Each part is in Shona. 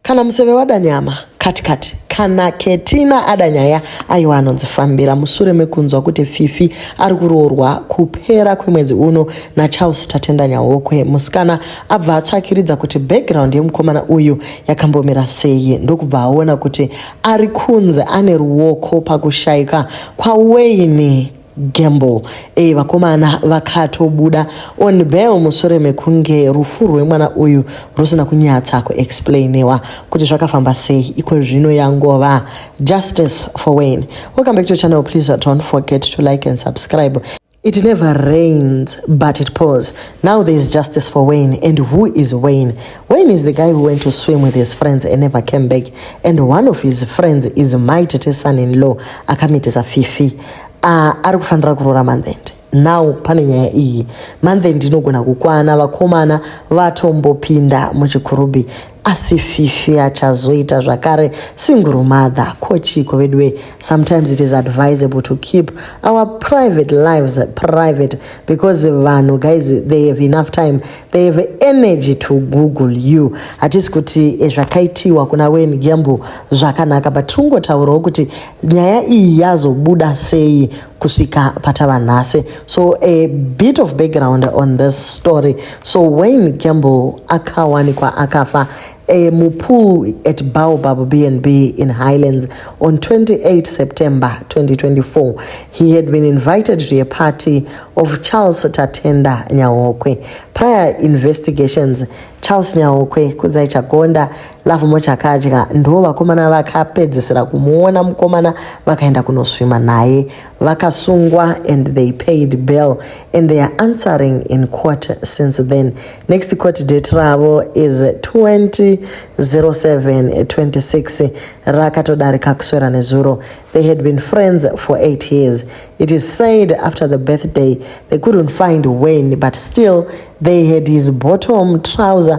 Kana museve wada nyama kati kati kana ketina ada nyaya aiwa anonzi fambira mushure mekunzwa kuti fifi ari kuroorwa kupera kwemwedzi uno nacharles tatenda nyahokwe musikana abva atsvakiridza kuti background yemukomana uyu yakambomira sei ndokubva aona kuti ari kunzi ane ruoko pakushayika kwaweini Gamble e vakomana vakatobuda on bail mushure mekunge rufu rwemwana uyu rusina kunyatsa kuexplainiwa kuti zvakafamba sei iko zvino yangova justice for wayne welcome back to channel please don't forget to like and subscribe It never rains, but it pours. Now there is justice for Wayne. And who is Wayne? Wayne is the guy who went to swim with his friends and never came back. And one of his friends is my Tete son in law, Akamitesa Fifi. Ah, ari kufanira kuroora manthend now pane nyaya iyi manthend inogona kukwana vakomana vatombopinda muchikurubhi asi fifi achazoita zvakare single mother ko chiiko veduwe sometimes it is advisable to keep our private lives private because vanhu guys they have enough time they have energy to google you hatisi kuti eh, zvakaitiwa kuna wen gembo zvakanaka but tiri kungotaurawo kuti nyaya iyi yazobuda sei kusvika patava nhasi so a bit of background on this story so wayne gamble akawanikwa akafa e, mupool at baobab bnb in highlands on 28 september 2024 he had been invited to a party of charles tatenda nyahokwe prior investigations charles nyahokwe kudzai chagonda Love Mocha akadya ndo vakomana vakapedzisira kumuona mukomana vakaenda kunoswima naye vakasungwa and they paid bail and they are answering in court since then next court date ravo is 200726 rakatodarika kuswera nezuro they had been friends for 8 years it is said after the birthday they couldn't find when but still they had his bottom trouser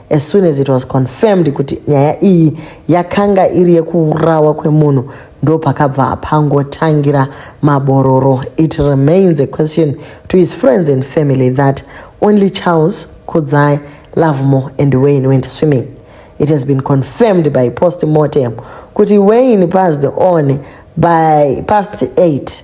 as soon as it was confirmed kuti nyaya iyi yakanga iri yekuurawa kwemunhu ndo pakabva pangotangira mabororo it remains a question to his friends and family that only charles kudzai lovemore and wayne went swimming it has been confirmed by post mortem kuti wayne passed on by past 8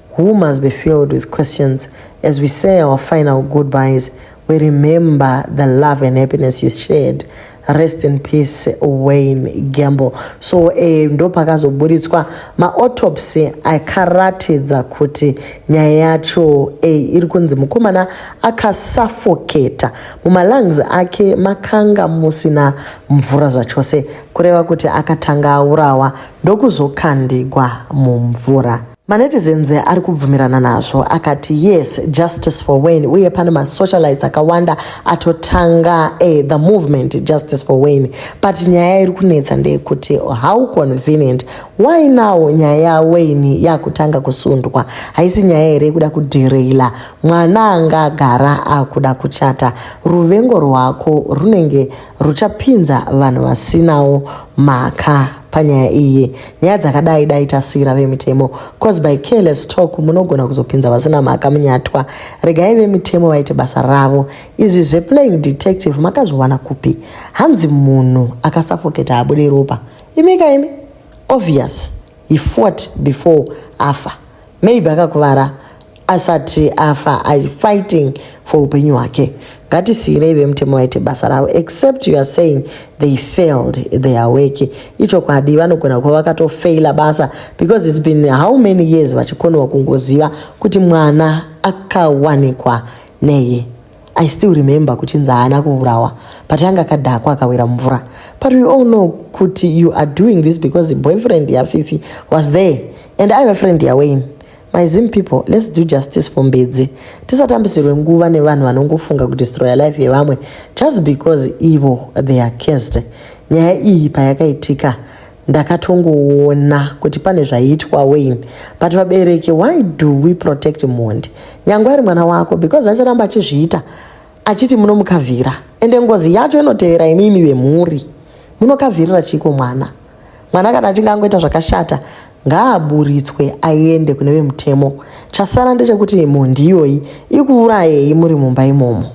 Who must be filled with questions as we say our final goodbyes. We remember the love and happiness you shared. Rest in peace Wayne Gamble. So eh, ndo pakazoburitswa maotopsy akaratidza kuti nyaya yacho eh, iri kunzi mukomana akasafoketa mumalungs ake makanga musina mvura zvachose kureva kuti akatanga aurawa ndokuzokandigwa mumvura. Manetizens ari kubvumirana nazvo akati yes justice for Wayne uye pane masocialites akawanda atotanga eh, the movement justice for Wayne but nyaya iri kunetsa ndeyekuti how convenient why now nyaya yaWayne yakutanga kusundwa haisi nyaya here yekuda kudhireyila mwana anga agara akuda kuchata ruvengo rwako runenge ruchapinza vanhu vasinawo mhaka panyaya iyi nyaya dzakadai dai tasiyira vemitemo cause by careless talk munogona kuzopinza vasina mhaka munyatwa regai vemitemo vaite basa ravo izvi zveplaying detective makazviwana kupi hanzi munhu akasafoketa abude ropa imi ka imi obvious he fought before afa maybe akakuvara asati afa i fighting for upenyu hwake ngatisiirei vemutemo vaite basa ravo except you are saying they failed their work ichokwadi vanogona kuva vakatofeila basa because its been how many years vachikonewa kungoziva kuti mwana akawanikwa nei i still remember kuti nzi haana kuurawa but anga akadhakwa akawira mumvura but we all know kuti you are doing this because boyfriend yafifi was there and ive friend yawayne My Zim people, let's do justice for Mbedzi. Tisatambisirwe nguva nevanhu vanongofunga kudestroya life yevamwe just because ivo they are cursed. Nyaya iyi payakaitika ndakatongoona kuti pane zvaiitwa Wayne but vabereki why do we protect mhondi nyangwe ari mwana wako because achiramba achizviita achiti munomukavhira ende ngozi yacho inotevera imimi vemhuri munokavhirira chiiko mwana mwana kana achinge angoita zvakashata ngaaburitswe aende kune vemutemo chasara ndechekuti mhondi iyoyi ikuurayei muri mumba imomo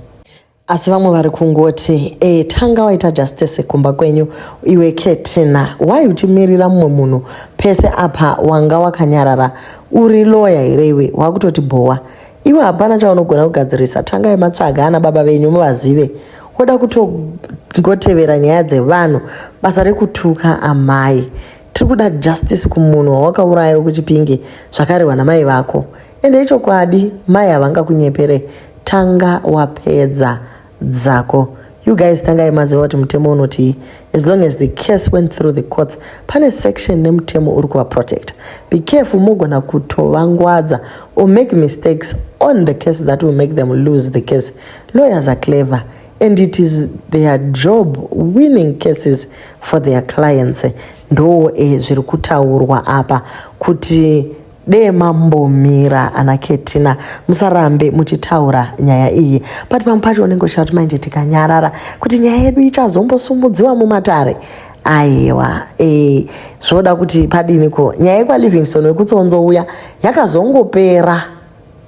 asi vamwe vari kungoti e, tanga waita justice kumba kwenyu iwe ketina why uchimirira mumwe munhu pese apa wanga wakanyarara uri loya here iwe wakutoti bhowa iwe hapana chaunogona kugadzirisa tangai matsvaga ana baba venyu muvazive woda kutongotevera nyaya dzevanhu basa rekutuka amai tiri kuda justice kumunhu wawakauraya kuchipinge zvakarehwa namai vako ende ichokwadi mai havangakunyepere tanga wapedza dzako you guys tangai maziva kuti mutemo unotii as long as the case went through the courts pane section nemutemo uri kuvaprotecta be careful mogona kutovangwadza or make mistakes on the case that will make them lose the case lawyers are clever and it is their job winning cases for their clients ndoo e zviri kutaurwa apa kuti dee mambomira ana ketina musarambe muchitaura nyaya iyi but pamwe pacho unenge uchita kuti manje tikanyarara kuti nyaya yedu ichazombosumudziwa mumatare aiwa e, zvoda kuti padini ko nyaya yekwalivingston wekutsonzo uya yakazongopera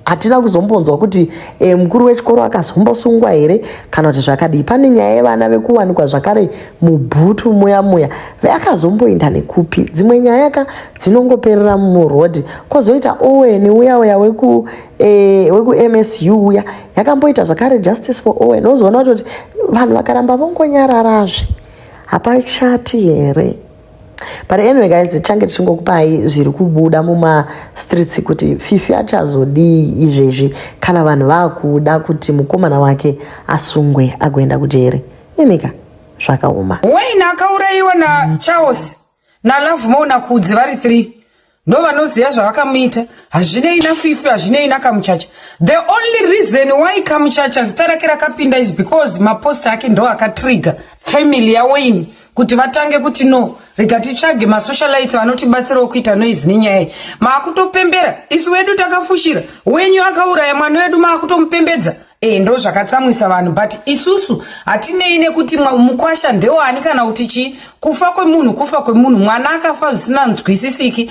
hatina kuzombonzwa kuti e, mukuru wechikoro akazombosungwa here kana kuti zvakadii pane nyaya yevana vekuwanikwa zvakare mubhutu muya muya veakazomboenda nekupi dzimwe nyaya ka dzinongoperera murhodhi kwozoita owen uya uya weku e, wekumsu uya yakamboita zvakare justice for owen wozoona kuti vanhu vakaramba vongonyararazve hapachati here but anyway guys tichange tichingokupai zviri kubuda mumastreets kuti fifi achazodii izvezvi kana vanhu vakuda kuti mukomana wake asungwe agoenda kujeri imika zvakaoma wain akaurayiwa nacharles nalove mo nakudzi vari three no vanoziva zvavakamuita hazvinei nafifi hazvinei nakamuchacha the only reason why kamuchacha zita rake rakapinda is because mapost ake ndo akatrigger family yawaini kuti vatange kuti no rega titsvage masocialites vanotibatsirawo kuita noise nenyaya iyi maakutopembera isu wedu takafushira wenyu akauraya mwana wedu maakutomupembedza Eh, ndo zvakatsamwisa vanhu but isusu hatinei nekuti mukwasha ndewani kana kuti chii kufa kwemunhu kufa kwemunhu mwana akafa zvisina nzwisisiki